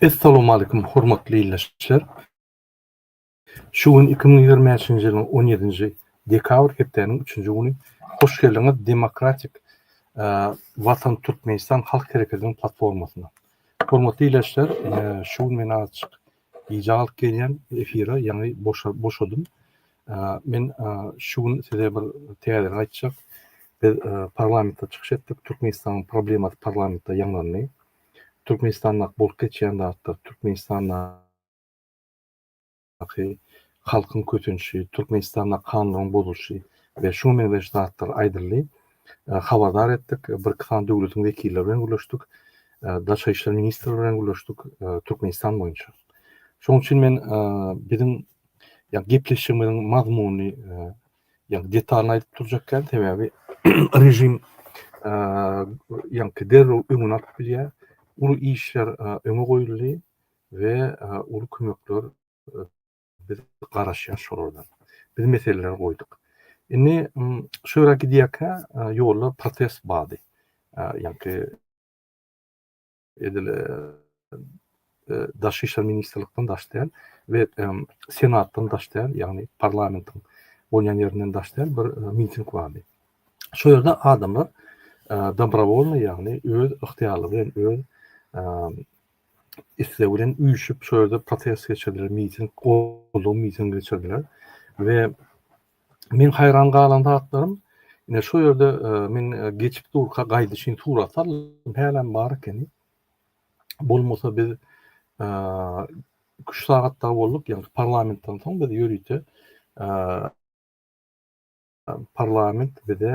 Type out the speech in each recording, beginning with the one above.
Essalowmalikim hormatly ildeşler. Şu gün 2025-nji ýylyň 17-nji dekabr hepdäniň 3-nji güni. Hoş geldiňiz Demokratik Watan Türkmenistan halk hereketiniň platformasyna. Hormatly ildeşler, şu gün men azajyk Gije alyp gelýän efire ýaňy boşadym. Men şu gün size bir täzeden aýtjak. Biz parlamentde çykyş etdik. Türkmenistanyň problemasy parlamentde ýaňlandy. Türkmenistandaky bolup geçýän zatlar, Türkmenistandaky halkyň kösenişi, Türkmenistanda kanunlaryň bozulyşy we şuňa meňzeş zatlar aýdyldy. habardar etdik, birki sany döwletiň wekilleri bilen gürleşdik, Daşary işler ministri bilen gürleşdik, Türkmenistan boýunça. Şonuň üçin men biziň ýa gepleşigimiziň mazmunyny ýa detalyny aýdyp durjak däl, sebäbi režim ýaňky derrew öňüni alyp bilýär. Uly işler öňe goýuldy we uly kömekler Biz garaşýas şolardan. Biz meseleleri goýduk. Indi şu ýere gidýärkä ýolda protest bardy. Ýaňky edil daşary işler ministrlikden daş däl we senatdan daş däl, ýagny parlamentiň bolýan ýerinden daş däl bir miting bardy. Şu ýerde adamlar dobrowolny, ýagny öz ygtyýarlygy bilen, öz isleg bilen üýşüp şol ýerde protest geçirdiler, miting, goldaw mitingi geçirdiler we men haýran galan zatlarym ine şu ýerde e, men e, geçip durka gaýdyşyn surat saldym, hälem bar ekeni. Bolmasa biz e, üç sagatda bolduk, ýagny parlamentden soň biz ýörite parlament bize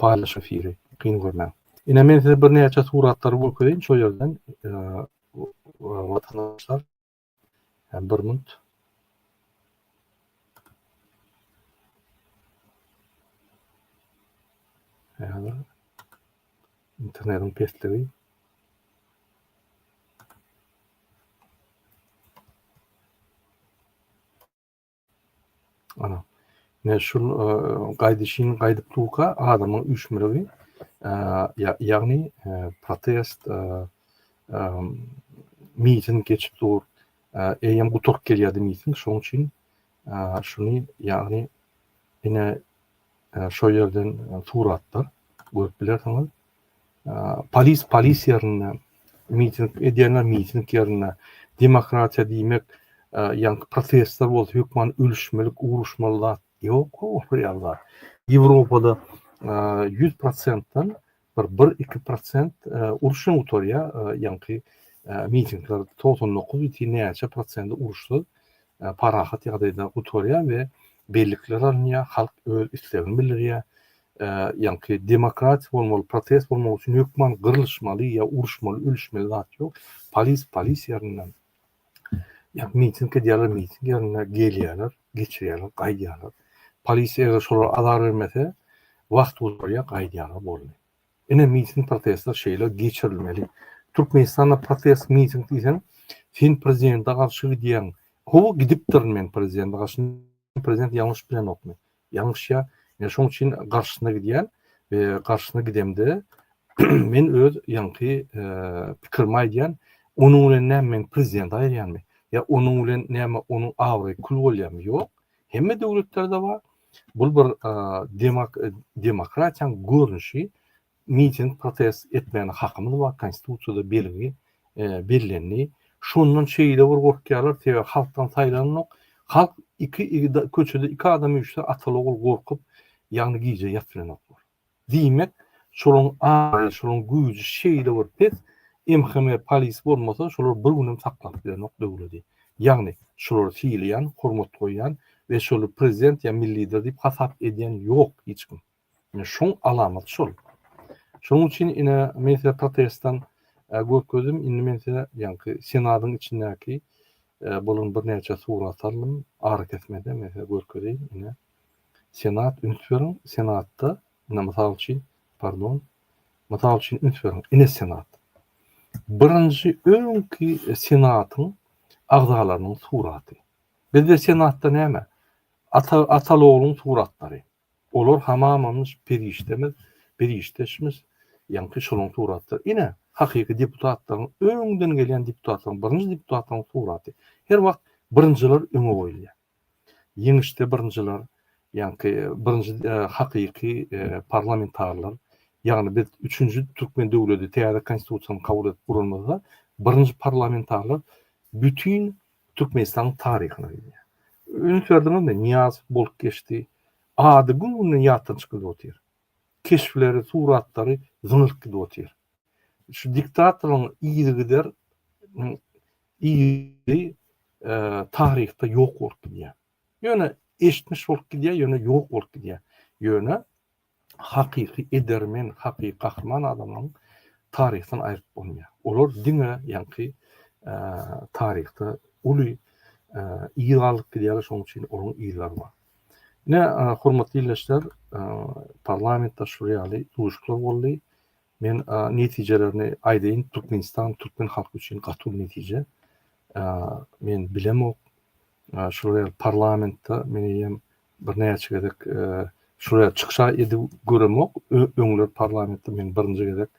Paýlaş efiri kyn görmäň. Ine men size birnäçe suratlary görkezeýin şo ýerden watandaşlar bir minut. Häzir internetiň pesligi. Ana. Ne şu gaýdyşyň gaýdyp durka adamyň üýşmegi ýagny protest mitin geçip dur. Eýýäm guturyp gelýärdi mitin. Şonuň üçin şuny ýagny ine şo ýerden suratlar görüp bilersiňiz. Polis polis ýerinde, miting edýänler miting ýerinde. Demokratiýa diýmek, ýaňky protestler bolsa hökman ölüşmelik, uruşmaly zat ýok olar ýaly. Ýewropada 100 prosentden bir bir iki prosent uruş bilen gutarýar, ýaňky mitingler togsan dokuz ýiti näçe prosenti uruşsyz, parahat ýagdaýda gutarýar we bellikler alynýar, halk öz islegini bildirýär. ýaňky demokratiýa bolmaly, protest bolmak üçin hökman gyrlyşmaly ýa uruşmaly, ölüşmeli zat ýok. Polis polis ýerinden, ýa miting edýärler, miting ýerinden gelýärler, geçirýärler, gaýdýarlar. Polis eger şolara azar bermese, wagt gurýar, gaýdýarlar boldy. Ine miting protestler şeýle geçirilmeli. Türkmenistanda protest miting diýseň, sen prezidente garşy gidýäň. Hawa gidipdirin men prezidente garşy. Prezident ýalňyş bilenokmy? ýalňyşýar. Men şoň üçin garşysyna gidýän we garşysyna gidemde men öz ýaňky pikirimi aýdýan, onuň bilen näme men prezident aýyrýanmy? Ýa onuň bilen näme onuň abraýy kül bolýarmy? Ýok. Hemme döwletlerde bar. Bu bir demokratiýanyň görnüşi. miting protest etmäne hakymyz bar konstitusiýada belgi bellendi şondan şeýle bir gorkýarlar sebäbi halkdan saýlanok halk iki köçede iki adam üýşse ataly ogul gorkup ýagny gije ýat bilenoklar diýmek şolaň aýy şolaň güýji şeýle bir pes mhme polis bolmasa şolar bir günem saklap bilenok döwledi ýagny şolary sylaýan hormat goýýan we şoly prezident ýa milli lider diýip hasap edýän ýok hiç kim. Ine, şoň alamaty şol. Şonuň üçin, ine, men size protestdan görkezdim, indi men size ýaňky Senadyň içindäki bolan birnäçe surat saldym, arakesmede men size görkezeýin, ine, Senat, üns beriň, Senatda, ine, mysal üçin, pardon, mysal üçin, üns beriň, ine, Senat. Birinji öňki Senatyň agzalarynyň suraty. Bizde Senatda näme? Ata, atal-ogluň suratlary. Olar hamamamyş, perişdemiz, perişdeşmiş, ýaňky şoluň suratlary. Ine, hakyky deputatlaryň, öňden gelýän deputatlaryň, birinji deputatlaryň suraty. Her wagt birinjiler öňe goýulýar. Ýeňişde birinjiler, ýaňky birinji hakyky parlamentarilor, ýagny biz üçünji türkmen döwledi, täze Konstitusiýany kabul edip guranymyzda, birinji parlamentarilor bütin Türkmenistanyň taryhyna girýär. Üns berdiňizmi, Nyýazow bolup geçdi. Ady gün-günden ýatdan çykyp gidip otyr. Keşpleri, suratlary zyňylyp gidip otyr. Şu diktatoryň yzygider yzy taryhda ýok bolup gidýär. Ýöne eşitmiş bolup gidýär, ýöne ýok bolup gidýär. Ýöne hakyky edermen, hakyky gahryman adamlaryň taryhdan aýryp bolmaýar. Olar diňe ýaňky taryhda uly yz galdyryp gidýärler, şonuň üçin olaryň yzlary bar. Ine, hormatly ildeşler, parlamentde şu ýaly duşuklar boldy. Men netijelerini aýdaýyn, Türkmenistan türkmen halky üçin gaty uly netije. Men bilemok, Şular ýaly parlamentde men eýýäm birnäçe gezek şular ýaly çykyş edip göremok. Öňler parlamentde men birinji gezek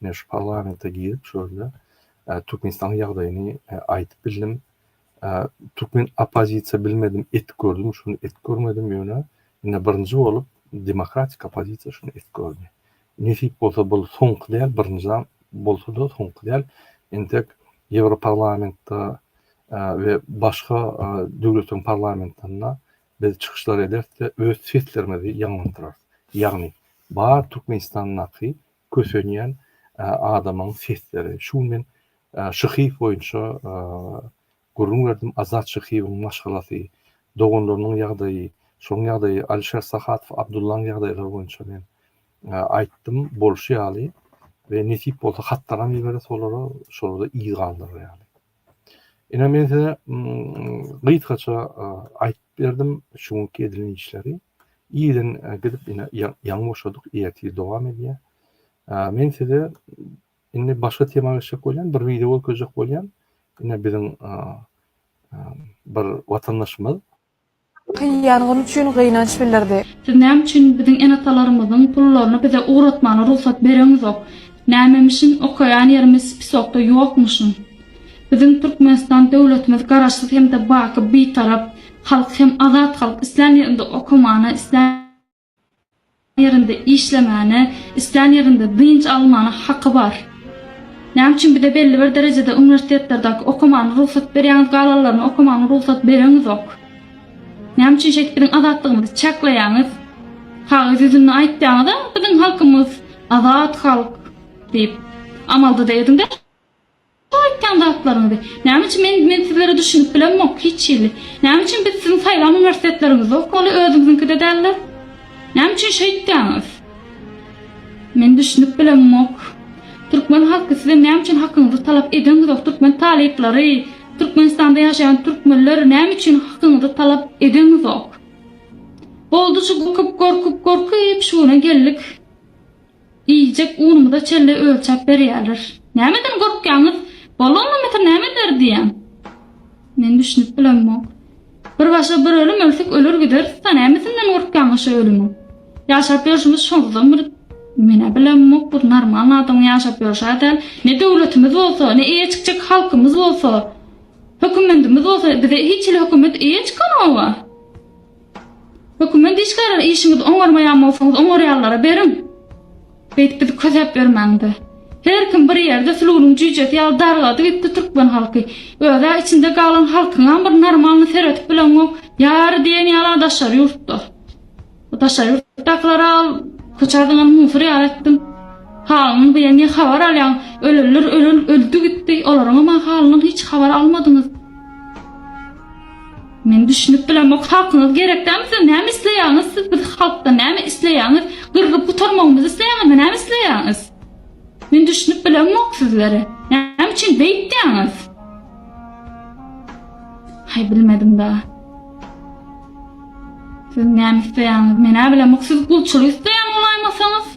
ine şu parlamente girip şu ýerde Türkmenistanyň ýagdaýyny aýdyp bildim. Türkmen oppozisiýa bilmedim edip gördüm, şuny edip görmedim ýöne ine birinji bolup demokratik oppozisiýa şuny edip gördi. Nesip bolsa bul soňky däl, birinjiden bolsada soňky däl. Entek Ýewroparlamentde we başga döwletleriň parlamentlerinde biz çykyşlar ederis we öz seslerimizi ýaňlandyrarys. Ýagny bar Türkmenistandaky kösenýän adamyň sesleri. Şu gün men şyhyýew boýunça Gürrüň berdim Azat Şyhyýewiň maşgalasy, doganlarynyň ýagdaýy, şoň ýagdaýy, Alişer Sahatow Abdullaň ýagdaýlary boýunça men aýtdym, bolşy ýaly we nesip bolsa hatlaram ýeberis olara, şolary yz galdyrar ýaly. Ine men size gysgaça aýtyp berdim şu günki edilen işleri. Irden gidip ine ýaňy boşadyk, ertir dowam edýär. Men size Indi başga tema geçjek bolýan, bir wideo görkezjek bolýan. Ine biziň bir watandaşymyz. Kyý ýangyn üçin gynanç bildirdi. Siz näme üçin biziň enatalarymyzyň pullaryny bize ugratmana rugsat bereňizok? Nämemişin okaýan ýerimiz spisokda ýokmyşyn? Biziň Türkmenistan döwletimiz garaşsyz hem-de baky Bitarap halk hem azat halk islän ýerinde okamana islän ýerinde işlemäne, islän ýerinde dynç almana haky bar. Näme üçin bize belli bir derejede uniwersitetlerdäki okamana rugsat berýäňiz galanlaryna okamana rugsat bereňizok? Näme üçin şeýdip biziň azatlygymyzy çäkleýäňiz? Kagyz ýüzünde aýtýaňyza biziň halkymyz azat halk diýip, amalda-da ediňde. Bu aýtýan zatlaryňyzy näme üçin men men sizlere düşünip bilemok hiç hili näme üçin biz siziň saýlan uniwersitetleriňizde okaly özüňiziňkide dälde näme üçin şeýtýäňiz men düşünip bilemok türkmen halky sizem näme üçin hakyňyzy talap edeňizok türkmen talyplary türkmenistanda ýaşaýan türkmenler näme üçin hakyňyzy talap edeňizok boldy şu gorkup gorkup gorkup şu güne geldik. Iýjek unumyza çenli ölçäp berýärler. Nämeden gorkýaňyz? Bolonna metre näme eder diýýän. Men düşünip bilemok. Bir başga bir ölüm ölsek öler gideris-da, nämesinden gorkýaňyz şu ölümiň? Ýaşap ýörşümiz şonsyzam bir Men-ä bilemok, bir normalny adamyň ýaşap ýörşä däl. Ne döwletimiz bolsa, ne eýe çykjak halkymyz bolsa, hökümendimiz bolsa, bize hiç hili hökümet eýe çykanok-a. Hökümet işgärleri işiňizi oňarmaýan bolsaňyz oňarýanlara beriň. Beýdip bizi kösäp bermäňde. Her kim bir ýerde sulunyň jüýjesi ýaly dargady gitdi türkmen halky. Özä içinde galan halkyňam bir normalny seretip bileňok. Ýary diýen ýala daşary ýurtda. Bu daşary ýurtdakylara al köçä zyňan musur ýaly etdiň. Halynyň diýen ne habar alýaň. Ölenler ölen öldi gitdi. Olaryňam a halynyň hiç habar almadyňyz. Men düşünip bilemok halkyňyz gerek däl size näme isleýäňiz siz biz halkdan näme isleýäňiz gyrgyp gutarmagymyzy isleýäňizmi näme isleýäňiz men düşünip bilemok sizlere näme üçin beýtdäňiz hay bilmedim da siz näme isleýäňiz men näme bilemok siz gulçulyk isleýän bolaýmasaňyz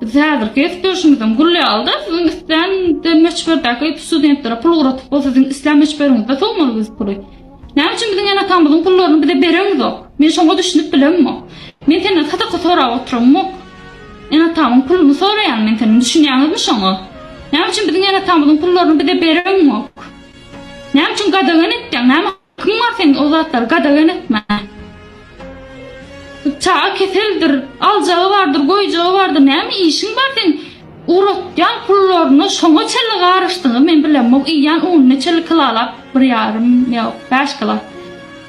Biz häzirki gep durşumyzam gül ýalyda, siziň islän de möçberdäki studentlere pul ugratyp bolsa, siziň islän möçberiňizde sowmaly biz puly. Näme üçin biziň ene-atamyzyň pullaryny bize bereňizok? Men şoňa düşünip bilemok. Men senden sadaka sorap oturamok. Ene-atamyň puluny soraýan men senden, düşünýäňizmi şoňa? Näme üçin biziň ene-atamyzyň pullaryny bize bereňok? Näme üçin gadagan etýäň? Näme Kim bar seň o zatlary gadagan etmän? Çaga keseldir, aljagy bardyr, goýjagy bardyr, näme işiň bar seň uratýan pullaryna şoňa çenli garyşdygyňy men bilemok, iýýän ununy çenli kilalap bir ýarym ýok, bäş kilo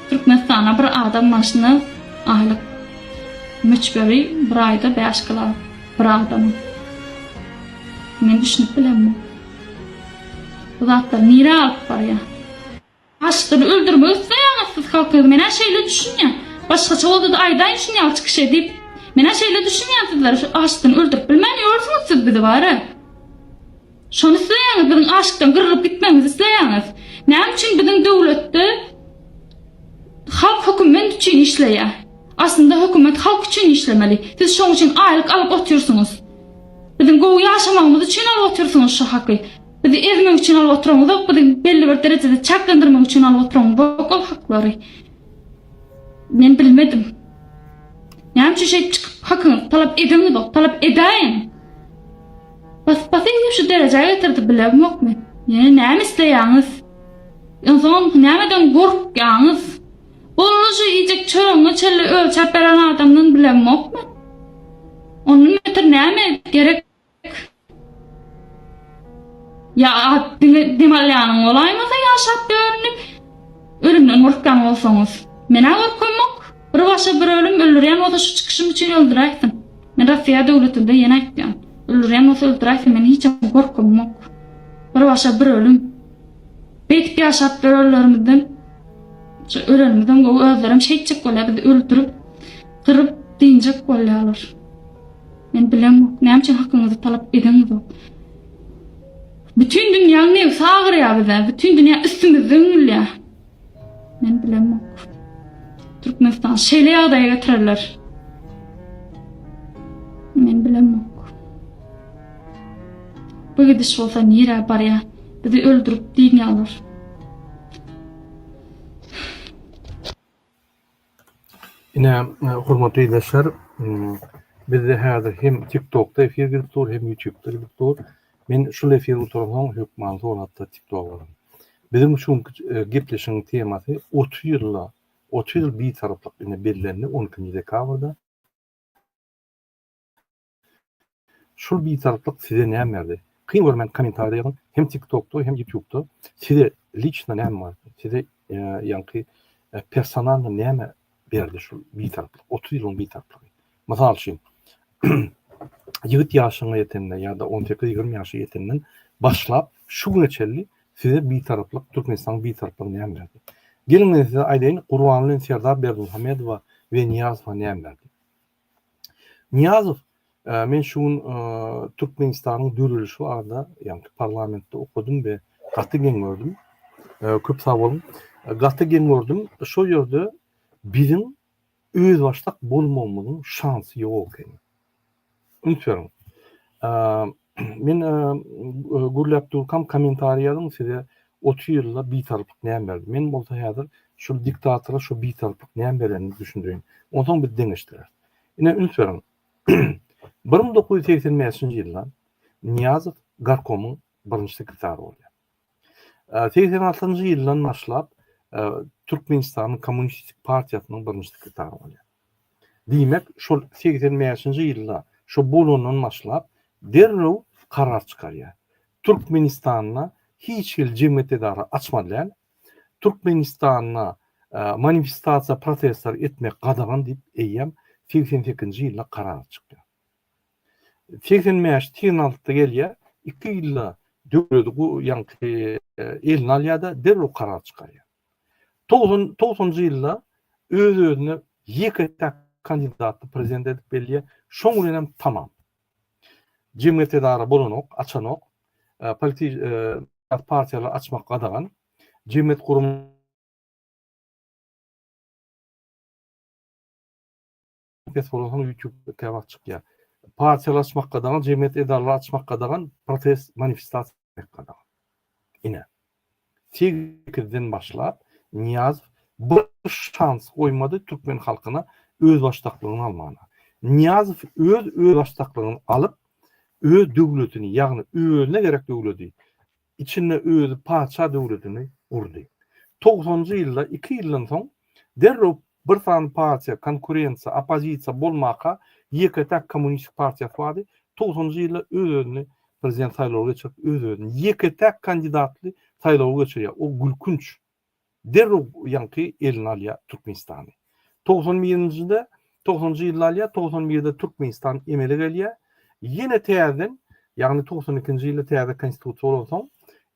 Türkmenistana bir adam başyna aýlyk möçberi bir aýda bäş kilo bir adamyň. Men düşünip bilemok. Bu zatlary nirä alyp barýaň? Aşygyny öldürmek isleýäňiz siz halkyňyzy menä şeýle düşünýän. Başgaça boldada aýdaýyn şuny ýaly çykyşy edip. Menä şeýle düşünýän sizler şu aşygyny öldürip bilmän ýörsüňiz siz bizi bara. Şony isleýäňiz biziň aşykdan gyrgyp gitmegimizi isleýäňiz. Näme üçin biziň döwletde halk höküment üçin işleýä. Aslynda hökümet halk üçin işlemeli. Siz şoň üçin aýlyk alyp otyrsyňyz. Biziň gowy ýaşamagymyz üçin alyp otyrsyňyz şu haky. Bizi ezmek üçin alyp oturaňyzok, bizi belli bir derejede çaklandyrmak üçin alyp oturaňyzok ol haklary. Men bilmedim. Näme üçin şeýdip çykyp hakyňyzy talap edeňizok, talap edäýiň. Baspasyňyz şu derejä getirdi bilemok men. Ýene näme isleýäňiz? Ynsan nämedeň gorkýaňyz? Bolmuşy iýjek çöregiňe çenli ölçäp beren adamdan bilemok men. Ondan beter näme gerek? Ýa at diňe dem alýanyň bolaýmasa ýaşap dörünip, ölümden gorkýan bolsaňyz. Men-ä gorkamok. Bir başa bir ölüm, öldürýän bolsa şu çykyşym üçin öldüräýsin. Men Rossiýa döwletinde ýene aýtýan. Öldürýän bolsa öldüräýsin, meniň hiçem gorkymok. Bir başa bir ölüm. Beýdip ýaşap dörenlerimizden şu ölenimizden gowy özlerem şeýtjek bolýar, bizi öldürip, gyryp, dynjak bolýarlar. Men bilemok, näme üçin hakyňyzy talap edeňizok? Bütin dünýäň nebsi agyrýar bize, bütin dünýä üstümizde üňülýär. Men bilemok. Türkmenistan şeýle ýagdaýa getirerler. Men bilemok. Bu gidiş bolsa nirä barýar? Bizi öldürip diýýärler. Ine, hormatly ildeşler, bizde häzir hem TikTokda efir gidip dur, hem YouTubda gidip dur. Men şul efir gutaransoň, hökman soňatda TikToga baran. Biziň üçin gepleşigiň temasy otuz ýylda, otuz ýyl bitaraplyk indi bellendi, on ikinji dekabrda. Şul bitaraplyk size näm berdi? Kyn görmäň komentarida ýazyň hem tik tokda hem ýutubda size liçno näm bar size ýaňky personalno näme berdi şul bitaraplyk otuz ýylyň bitaraplygy mysal üçin ýigit ýaşyňa ýetende ýa-da on sekiz ýigrimi ýaşa ýetenden başlap şu güne çenli size bitaraplyk türkmenistanyň bitaraplygy näme berdi geliň men size aýdaýyn gurbanly serdar berdimuhamedowa we niýazowa näme berdi Niýazow, Men şu gün Türkmenistanyň dörelişi barada, ýagny parlamentde okadym we gaty geň gördüm. Köp sag boluň. Gaty geň gördüm. Şol ýerde biziň özbaşdak bolmagymyzyň şansy ýok ekeni. Üns beriň. Men gürläp durkam kommentariý ýazyň size otuz ýylda bitarpyk näme berdi. Men bolsa häzir şu diktatora şu bitarpyk näme berenini düşündirin. Onsoň biz deňeşdireris. Ine üns beriň. 1985-nji ýylda Niýazow garkomyň birinji sekretary bolýar. Segsen altynjy ýyldan başlap Türkmenistanyň Kommunistik partiýasynyň birinji sekretary bolýar. Diýmek, şol segsen bäşinji ýylda şo bolandan başlap derrew karar çykarýar. Türkmenistanda hiç hili jemgyýet edara açmaly däl. Türkmenistanda manifestasiýa, protestler etmek gadagan diýip eýýäm segsen sekizinji ýylda karar çykýar. Segsen bäş, segsen altyda gelýär, iki ýylda döwleti gu, ýaňky eline alýar-da, derrew karar çykarýar. Togsan, togsanjy ýylda öz-özüne ýeke-täk kandidaty prezident edip belleýär, şoň bilenem tamam. Jemgyýet-edara bolanok, açanok, politi, syýasy partiýalary açmak gadagan, jemgyýet gurum, Pes bolsa soň ýutube kä wagt çykýar. Partiýalar açmak gadagan, jemgyýet edaralary açmak gadagan, protest manifestasiýa etmek gadagan. Ine, segizden başlap Nyýazow bir şans goýmady türkmen halkyna özbaşdaklygyny almagyna. Nyýazow öz özbaşdaklygyny alyp, öz döwletini, ýagny özüne gerek döwleti içinde özi patyşa döwletini gurdy. Togsanjy ýylda iki ýyldan soň derrew bir sany partiýa, konkurensiýa, oppozisiýa bolmaka ýeke-täk kommunistik partiýasy bardy, togsanjy ýylda öz-özüni prezident saýlawy geçirip öz-özüni ýeke-täk kandidatly saýlawy geçirýär, o gülkünç derrew ýaňky eline alýar Türkmenistany. Togsan birinjide, togsanjy ýylda alýar, togsan birde Türkmenistan emele gelýär. Ýene täzeden, ýagny togsan ikinji ýylda täze Konstitusiýa bolansoň,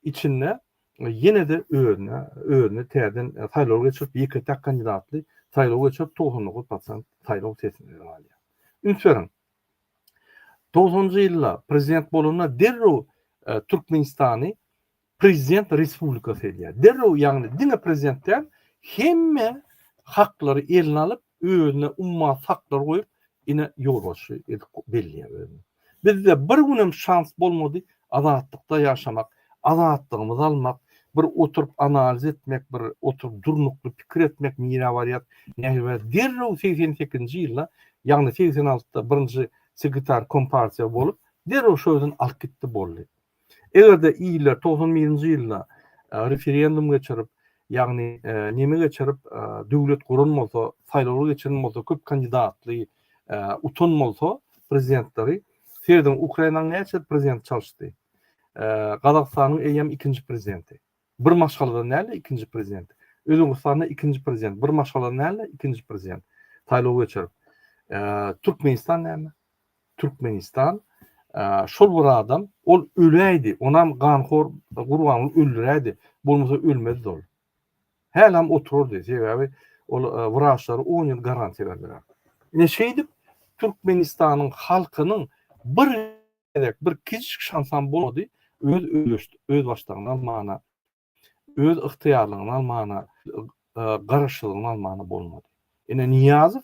içinde ýene-de özüne, özüne täzeden saýlaw geçirip, ýeke-täk kandidatly saýlaw geçirip, togsan dokuz prosent saýlaw sesini eline alýar. Üns beriň, togsanjy ýylda prezident bolanda derrew Türkmenistany Prezident respublika selýär. Derrew, ýagny diňe prezident däl, hemme haklary eline alyp, özüne ummasyz haklar goýup, ine, ýolbaşçy edip belleýär özüni. Bizde bir günem şans bolmady azatlykda ýaşamak, azatlygymyzy almak, bir oturyp analiz etmek, bir oturyp durnukly pikir etmek nirä barýar, nähili derrew segsen sekizinji ýylda, ýagny segsen altda birinji sekretar kompartiýa bolup, derrew şo özüni alyp gitdi boldy. Eger-de iller togsan birinji ýylda referendum geçirip, ýagny neme geçirip, döwlet guran bolsa, saýlawlar geçiren bolsa, köp kandidatly utan bolsa prezidentleri, sezdiň, Ukrainanyň näçe prezidenti çalyşdy? Gazagystanyň eýýäm ikinji prezidenti. Bir maşgaladan dälde ikinji prezident. Özbegistanda ikinji prezident. Bir maşgaladan dälde ikinji prezident. Saýlaw geçirip. Türkmenistan näme? Türkmenistan şol bir adam, ol öläýdi, onam ganhor gurbanlyk öldüräýdi, bolmasa ölmezdi ol. Hälam oturardy, sebäbi ol wraçlary 10 ýyl garantiýa berdiler. Neşeýdip Türkmenistanyň halkynyň bir gezek bir kiçijik şansam bolmady, öz özbaşdagyny almana, öz ygtyýarlygyny almana, garaşsyzlygyny almana bolmady. Ine Nyýazow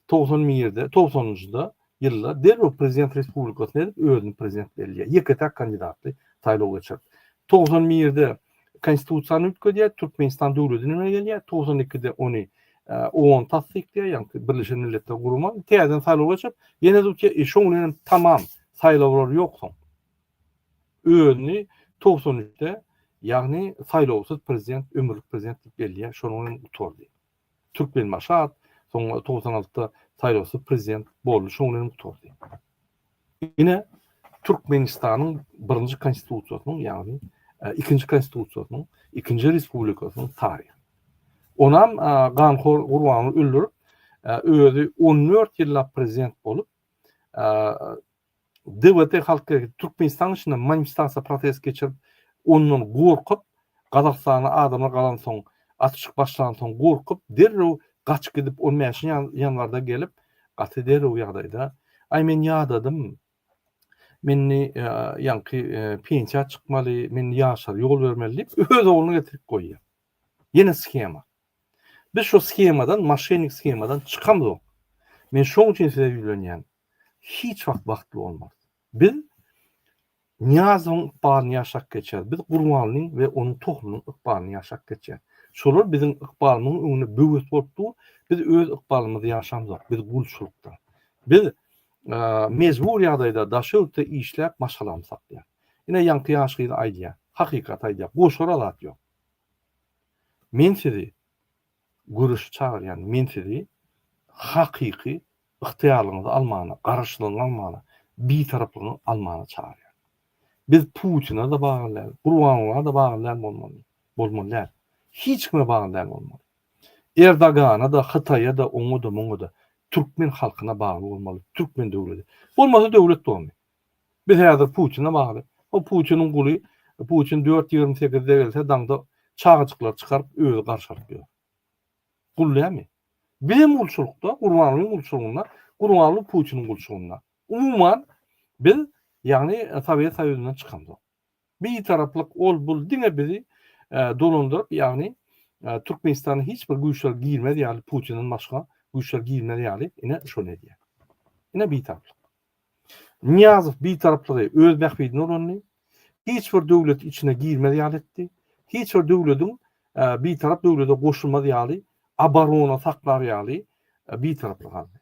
togsan birde, togsanynjyda ýylda derrew prezident respublikasyny edip özüni prezident bellýär. Ýeke-täk kandidatly saýlaw geçirip. Togsan birde Konstitusiýany üýtgedýär, Türkmenistan döwletini emele gelýär, togsan ikide ony OON tassyklaýar, ýagny Birleşen Milletler Gurumy, täzeden saýlawa geçip, ýene tutýar, şoň bilen hem tamam, saýlawlar ýok soň. Özüni togsan üçde, ýagny saýlawsyz prezident, ömürlik prezident diýip bellýär, şonuň bilen gutardy. Türkmenbaşy at soň togsan altda saýlawsyz prezident boldy şoň bilen gutardy. Ine Türkmenistanyň birinji konstitusiýasynyň ýagny ikinji konstitusiýasynyň ikinji respublikasynyň taryhy. Onam ganhor Gurbany öldürip özi on dört ýyllap prezident bolup DWT Halk Hereketi Türkmenistan içinde manifestasiýa protest geçirip, ondan gorkup, Gazagystana adamlar galansoň, atyşyk başlansoň gorkup, derrew gaçyp gidip, on bäşinji ýanwarda gelip, gaty derrew ýagdaýda, Aý, men ýadadym, men indi ýaňky pensiýa çykmaly, men indi ýaşlara ýol bermeli diýip, öz ogluny getirip goýýar. Ýene shema. Biz şu shemadan, moşennik shemadan çykamzok. Men şoň üçin size ýüzlenýän. hiç wagt bagtly bolmarys. Biz Nyýazowyň ykbalyny ýaşap geçeris, biz Gurbanlyň we onuň tohumynyň ykbalyny ýaşap geçeris. Şolar biziň ykbalymyzyň öňünde böwet bolup dur, biz öz ykbalymyzy ýaşamzok, biz gulçulykda. Biz mejbur ýagdaýda daş-töwekde işläp maşgalamy saklaýarys. Ine, ýaňky ýaş gyz aýdýar, hakykaty aýdýar, goşara zat ýok. Men sizi Göreşe çagyrýan men sizi hakyky ygtyýarlygyňyzy almana, garaşsyzlygyňy almana, bitaraplygyňy almana çagyrýan. Biz Putine de bagly däl, Gurbanguly'a da bagly däl bolmaly, bolmaly däl. Hiç kime bagly däl bolmaly. Erdogana da, Hytaýa da, oňa da, muňa da. Türkmen halkyna bagly bolmaly, türkmen döwledi. Bolmasa döwlet bolmy? Biz häzir Putine bagly. O Putiniň guly. Putin dört ýigrimi segizde gelse daňda çagajyklary çykaryp özi garşy alyp ýör. Gul näme? Bizem gulçulykda, Gurbangulyň gulçulygynda, Gurbanguly Putiniň gulçulygynda. Umuman biz ýagny Sowet Soýuzyndan çykamzok. Bitaraplyk ol bul diňe bizi dolandyryp ýagny Türkmenistana hiç bir güýçler girmez ýaly Putinden başga güýçler girmez ýaly ine şony edýär. Ine bitaraplyk. Niýazow bitaraplygy öz bähbidine ulandy. Hiç bir döwlet içine girmez ýaly etdi. Hiç bir döwlediň bitarap döwlede goşulmaz ýaly abarona saklar ýaly bitaraplyk aldy.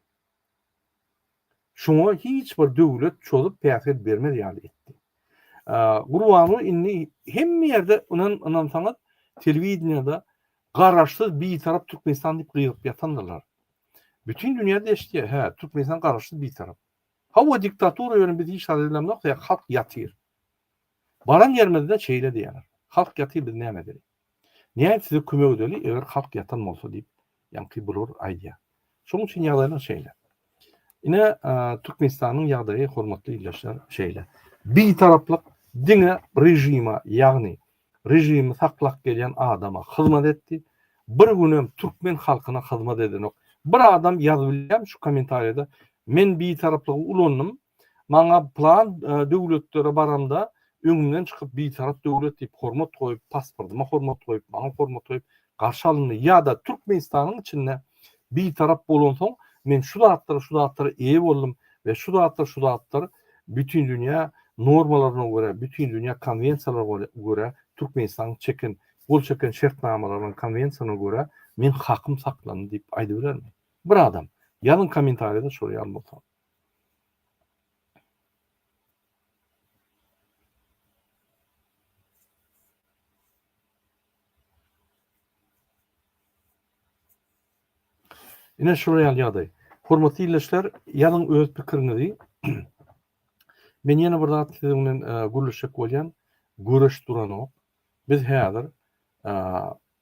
Şoňa hiç bir döwlet çozup päsgel bermez ýaly etdi. Gurbanow indi hemme ýerde ynan ynansaňyz telewideniýada garaşsyz bitarap Türkmenistan diýip gygyryp ýatandyrlar. Bütin dünýäde eşitýär, hä, Türkmenistan garaşsyz bitarap. Hawa diktatura ýöne biz hiç zat edemzok, halk ýatyr. Baran ýerimizde şeýle diýýärler. Halk ýatyr biz näme edeli. Nädip size kömek edeli, eger halk ýatan bolsa diýip, ýaňky blur aýdýar. Şonuň üçin ýagdaýlar şeýle. Ine, Türkmenistanyň ýagdaýy, hormatly ildeşler, şeýle. Bitaraplyk diňe režime, ýagny režimi saklap gelýän adama hyzmat etdi. Bir gün hem türkmen halkyna hyzmat edenok. Bir adam ýazyp bilýärmi şu kommentariýada, men bitaraplygy ulandym, Maňa plan döwletlere baramda öňümden çykyp bitarap döwlet diýip hormat goýup, pasportyma hormat goýup, maňa hormat goýup garşy alyndy. Ýa-da Türkmenistanyň içinde bitarap bolansoň men şu zatlara, şu zatlara eýe boldum we şu zatlar, şu zatlar bütindünýä normalaryna görä, bütindünýä konwensiýalaryna görä Türkmenistanyň çeken, gol çeken şertnamalaryna, konwensiýalaryna görä men hakym saklandy diýip aýdybilermi? Bir adam. Ýazyň kommentariýada şol ýaly bolsa. Ine şular ýaly ýagdaý. Hormatly ildeşler, ýazyň öz pikiriňizi. Men ýene bir zat siziň bilen e, gürleşjek bolýan. Göreş duranok. Biz häzir e,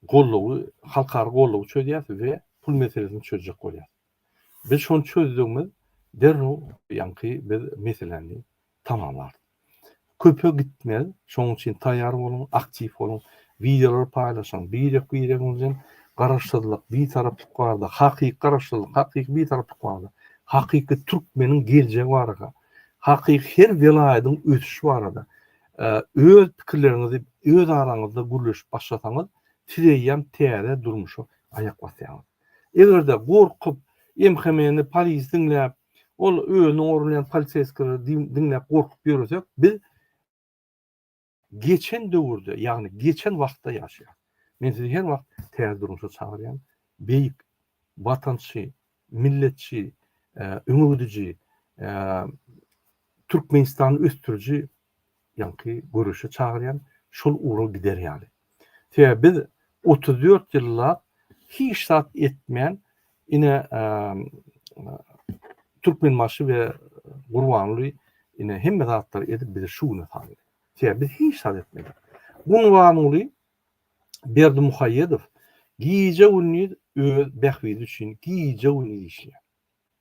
gollugy, halkara gollugy çözýäs we pul meselesini çözjek bolýas. Biz şony çözdügimiz derrew ýaňky biz meseläni tamamlarys. Köpe gitmez, şonuň üçin taýýar boluň, aktiw boluň, wideolary paýlaşyň, birek-biregiňiz bilen Garaşsyzlyk, Bitaraplyk barada, hakyky Garaşsyzlyk, hakyky Bitaraplyk barada, hakyky türkmeniň geljegi barada, hakyky her welaýatyň ösüşi barada, Öz pikirleriňizi öz araňyzda gürleşip başlasaňyz, siz eýýäm täze durmuşa aýak basýaňyz. Eger-de gorkup, MHM-ni, polisi diňläp, ol özüni gorlaýan poliseýskileri diňläp gorkup ýöresek, biz geçen döwürde, ýagny geçen wagtda ýaşaýarys. Men sizi her wagt täze durmuşa çagyrýan. Beýik watançy milletçi, öňegidiji, Türkmenistany ösdüriji ýaňky göreşe çagyrýan, şol ugra gider ýaly. Sebäbi biz otuz dört ýyllap hiç zat etmän, ine, Türkmenbaşy we Gurbanguly ine hemme zatlary edip bizi şu güne saldy. Sebäbi biz hiç zat etmedik. Gurbanguly Berdimuhaýedow gije-gündiz öz bähbidi üçin gije-gündiz işleýär.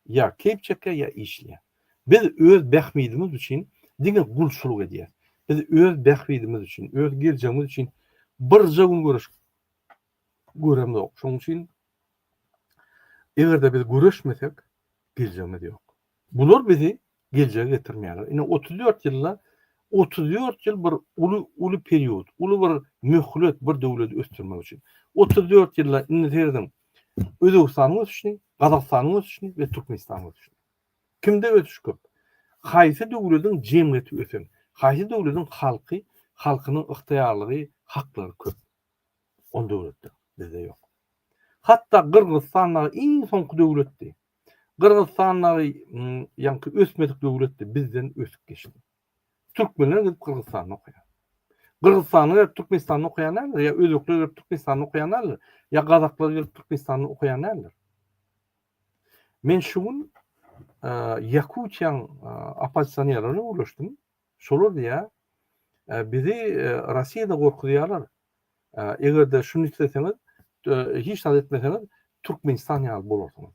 Ýa keýp çekýär, ýa işleýär. Biz öz bähbidimiz üçin diňe gulçulyk edýäris. Biz öz bähbidimiz üçin, öz geljegimiz üçin birje gün göreş göremzok. Şonuň üçin eger-de biz göreşmesek, geljegimiz ýok. Bular bizi geljege getirmeýärler. Ine, otuz dört ýylda, otuz dört ýyl bir uly, uly period, uly bir möhlet bir döwleti ösdürmek üçin. Otuz dört ýylda indi serediň, Özbegistanyň ösüşini, Gazagystanyň ösüşini we Türkmenistanyň ösüşini. Kimde ösüş köp? Haýsy döwletiň jemgyýeti ösen? Haýsy döwletiň halky, halkynyň ygtyýarlygy, haklary köp? Ol döwletler bizde ýok. Hatda Gyrgyzystan dagy iň soňky döwletdi. Gyrgyzstan dagy ýaňky ösmedik döwletdi bizden ösüp geçdi. Türkmenler gidip Gyrgyzstanda okaýar. Gyrgyzstanly gelip Türkmenistanda okaýan däldir, ýa özbekler gelip Türkmenistanda okaýan däldir, ýa gazaklar gelip Türkmenistanda okaýan däldir. Men şu gün Ýakutiýaň oppozisionerlerine gürleşdim. Şolar diýýär, Bizi Rossiýada gorkuzýarlar. Eger-de şuny isleseňiz, hiç zat etmeseňiz, Türkmenistan ýaly bolarsyňyz.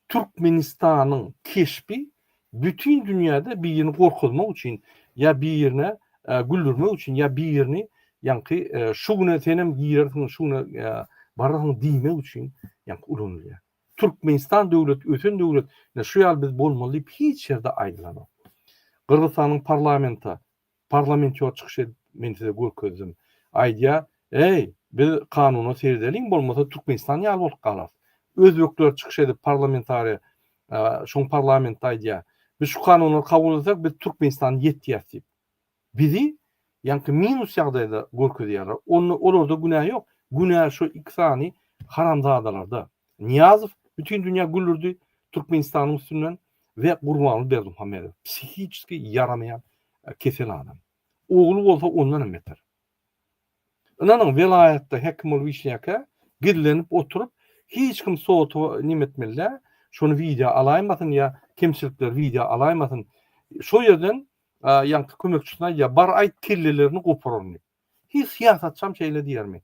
Türkmenistanyň keşbi bütin dünýäde birini gorkuzmak üçin ýa birini güldürmek üçin ýa birini ýaňky şu güne senem girersiň, şu güne bararsyň diýmek üçin ýaňky ulanylýar. Türkmenistan döwlet ösen döwlet ine şu ýaly biz bolmaly diýip hiç ýerde aýdylanok. Gyrgyzystanyň parlamenta parlamentýor çykyş edip men size görkezdim. Aýdýar, Eý, biz kanuna seredeliň bolmasa Türkmenistan ýaly bolup galarys. Özbekler çykyş edip parlamentariýa şoň parlamentde aýdýar, Biz şu kanunlary kabul etseň biz Türkmenistany ýetýäs diýip. bizi ýaňky minus ýagdaýda görkezýärler. Onda olarda günä ýok. Günä şu iki sany haramzadalarda. Nyýazow bütin dünýä gülürdi Türkmenistanyň üstünden we Gurbanguly Berdimuhamedow psihiçeski ýaramaýan kesel adam. Ogly bolsa ondan hem beter. Ynanyň welaýatda hekim bolup işleýärkä gizlenip oturyp hiç kim sota nime etmeli däl. Şony wideo alaýmasyn ýa kemçilikleri wideo alaýmasyn. Şo ýerden ýaňky kömekçisine aýdýar, Bar aýt, kellelerini gopuraryn diýip. Hiç syýasatçam şeýle diýermi?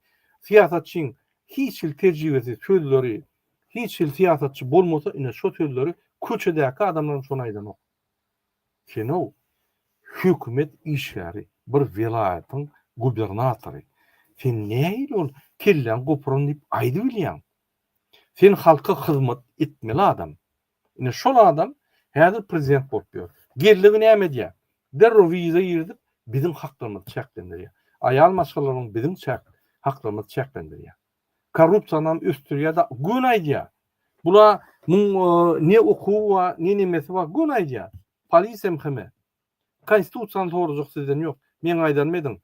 Syýasatçyň hiç hili tejribesiz sözleri, hiç hili syýasatçy bolmasa, ine şo sözleri köçedäki adamlaram şony aýdanok. Sen-ow, hökümet işgäri, bir welaýatyň gubernatory. Sen nähili ol kelläňi gopuraryn diýip aýdybilýäň? Sen halka hyzmat etmeli adam. Ine şol adam häzir prezident bolup ýör. Geldi näme edýär? Derrew wiza girizip biziň haklarymyzy çäklendirýär. Aýal maşgalalaryň biziň çäk haklarymyzy çäklendirýär. Korrupsiýanam ösdürýär da göni aýdýar. Bula muň ne okuwy bar, ne nemesi bar göni aýdýar. Polisiýa mhme. Kaýsy tutsan sorajak sizden ýok. Meň aýdanym ediň.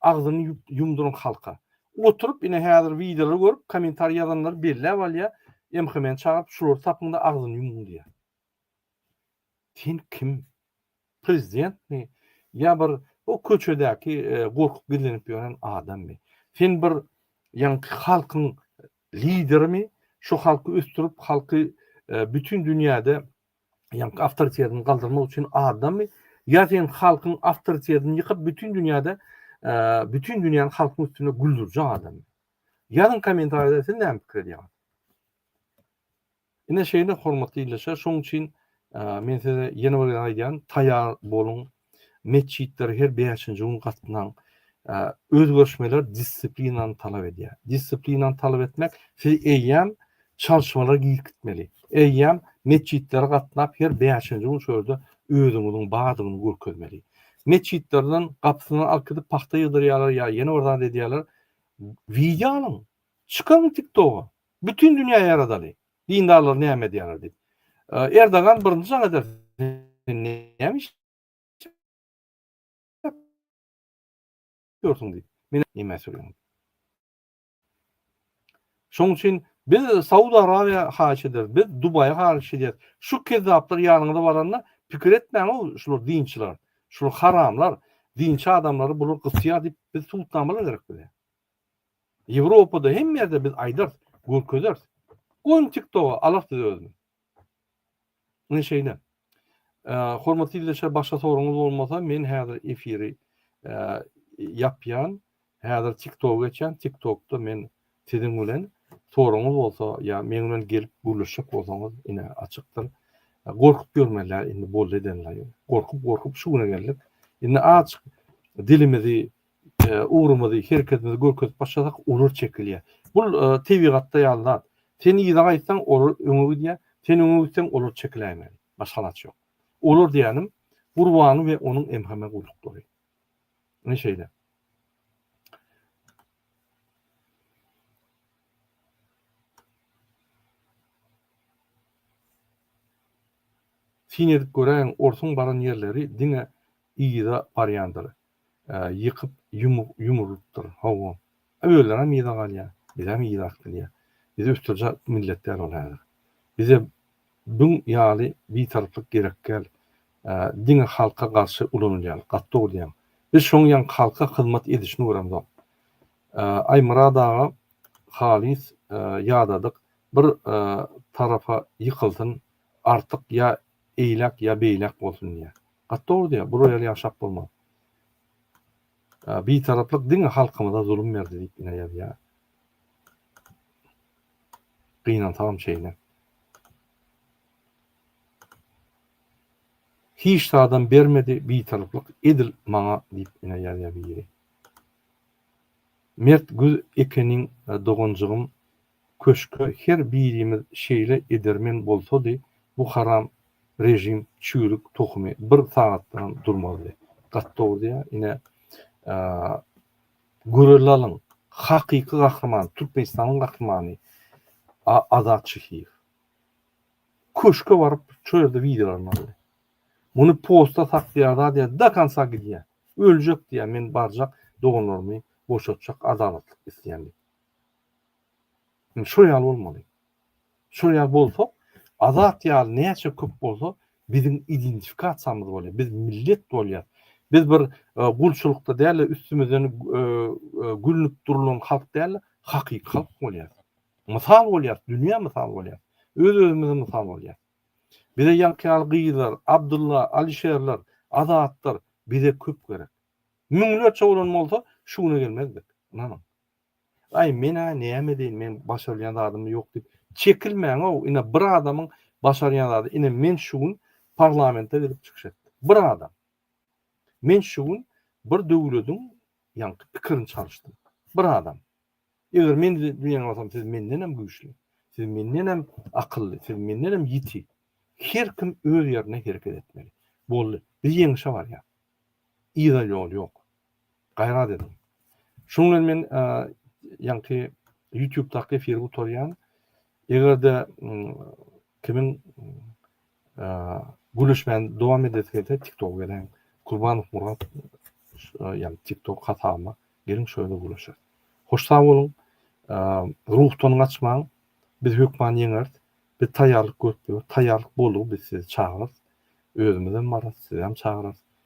Agzyny ýumduryň halka. Oturyp ine häzir wideolary görüp komentariýa ýazanlar belläp alýa MHM-ni çagyryp şulary tapyňda agzyny ýumuň diýýä. Sen kim? Prezidentmi? Ýa bir o köçedäki gorkup gizlenip ýören adammy? Sen bir ýaňky halkyň liderimi? Şu halky ösdürip halky bütin dünýäde ýaňky awtoritetini galdyrmak üçin adammy ýa sen halkyň awtoritetini ýykyp bütün dünýäde bütün dünýäni halkyň üstüne güldürjek adam ýazyň kommentariýada siz näme pikir edýäňiz ine şeýle hormatly ildeşler şoň üçin men size ýene bir aýdýan taýýar boluň Metjitlere her bäşinji gün gatnaň. Özgerişmeler dissiplinany talap edýär. Dissiplinany talap etmek, siz eýýäm çalşmalara giýip gitmeli. Eýýäm metjitlere gatnap, her bäşinji gün şol ýerde özüňiziň bardygyny görkezmeli. Metjitlerden gapysyndan alkydyp pagta ýygdyrýarlar ýa ýene bir zat edýärler. Wideo alyň, çykaryň TikToga. Bütin dünýä ýaradaly. Dindarlar näme edýärler diýip. Erdogan birinji jaň eder sen näme iş ýörsiň diýip. Meni nämä sürýäň. Şoň üçin biz Saud Arabiýa haýyş ederis, biz Dubaýa haýyş edýäs. Şu kezzaplar ýanyňyza baranda pikir etmäň-ow şular dinçiler, şular haramlar, dinçi adamlary bular gysýar diýip biz subutnamalar gerek bize. Ýewropada hemme ýerde biz aýdarys, görkezeris. Goýuň TikToga alar sizi özüne. Ine şeýle. Hormatly ildeşler başga soragyňyz bolmasa men häzir efiri ýapýan. Häzir TikToga geçýän. TikTokda men siziň bilen soragyňyz bolsa ýa meň bilen gelip gürleşjek bolsaňyz ine açykdyr. Gorkup ýörmeliler indi boldy edenler. Gorkup gorkup şu güne geldik. Indi azjyk dilimizi Ugrumyzy, hereketimizi görkezip başlasak, olar çekilýär. Bu tebigatda ýaly zat. Sen yza gaýtsaň, olar öňe gidýär, sen öňe gitseň, olar çekiläýmeli. Başga alaç ýok. Olar diýýänim, Gurbany we onuň MHM gulluklary. Ine şeýle. Syn edip göräýiň, orsuň baran ýerleri diňe yza barýandyr. ýykyp ýumrulypdyr. Hawa. Özlerem yza galýar. Bizem yza akdyrýar. Biz ösdürjek millet däl ol häzir. Bize bün ýaly bitaryplyk gerek däl. Diňe halka garşy ulanylýar. Gaty dogry diýýäň. Biz şoň ýaň halka hyzmat edişini göremzok. Aýmyrat aga halys ýadadyk bir tarapa ýykylsyn artyk ýa eýläk ýa beýläk bolsun diýýä. Gaty dogry diýýä, bu roýal ýaşap bolmaz. Bitaraplyk diňe halkymyza zulum berdi diýip ine ýazýa. Gynansagam şeýle. Hiç zadam bermedi bitaraplyk edil maňa diýip ine ýazýa biri. Mert güz ekeniň doganjygym Köşke her birimiz şeýle edermen bolsady bu haram rejim çüýrük tohumy bir sagatdanam durmazdy. Gaty dogry diýä ine göreli alyň hakyky gahryman Türkmenistanyň gahrymany Azat Şehiýew köşke baryp şo ýerde wideolaryny aldy. Muny posta saklaýar zat ýa do konca gidýär. Öljek diýär men barjak doganlarymy boşatjak adalatlyk isleýän diýip. Indi şol ýaly bolmaly. Şol ýaly bolsak, Azat ýaly näçe köp bolsa, biziň identifikasiýamyz bolýar, biz millet bolýar. Biz bir gulçulykda däl-de, üstümizden gülnüp durlan halk däl-de, hakyky halk bolýar. Mysal bolýar, dünýä mysal bolýar. Öz-özümize mysal bolýar. Bize ýaňky ýaly gyzlar, Abdulla, Alişerler, Azatlar bize köp gerek. Müňlerçe bolan bolsa, şu güne gelmezdik. Ynanyň. Aý men-ä näme edeýin, meň başarylýan zadym ýok diýip çekilmäň-ow, ine bir adamyň başarýan zady, ine men şu gün parlamente gelip çykyş etdim. Bir adam. Men şu gün bir döwlediň ýaňky pikirini çalyşdym. Bir adam. Eger men diýen bolsam siz mendenem güýçli, siz mendenem akylly, siz mendenem ýiti. Her kim öz ýerinde hereket etmeli. Boldy. Biz ýeňişe barýas. Yza ýol ýok. Gaýrat ediň. Şunuň bilen men ýaňky YouTube-daky efiri gutarýan. Eger-de kimiň gürleşmäni dowam edesi gelse, TikTok gelen Kurbanow Murat ýa-da TikTok hasabyma geliň, şo ýerde gürleşeris. Hoş sag boluň. Ruhdan gaçmaň. Biz hökman ýeňeris. Biz taýýarlyk görüp ýörüs. Taýýarlyk boluň, biz sizi çagyrarys. Özümizem bararys, sizem çagyrarys.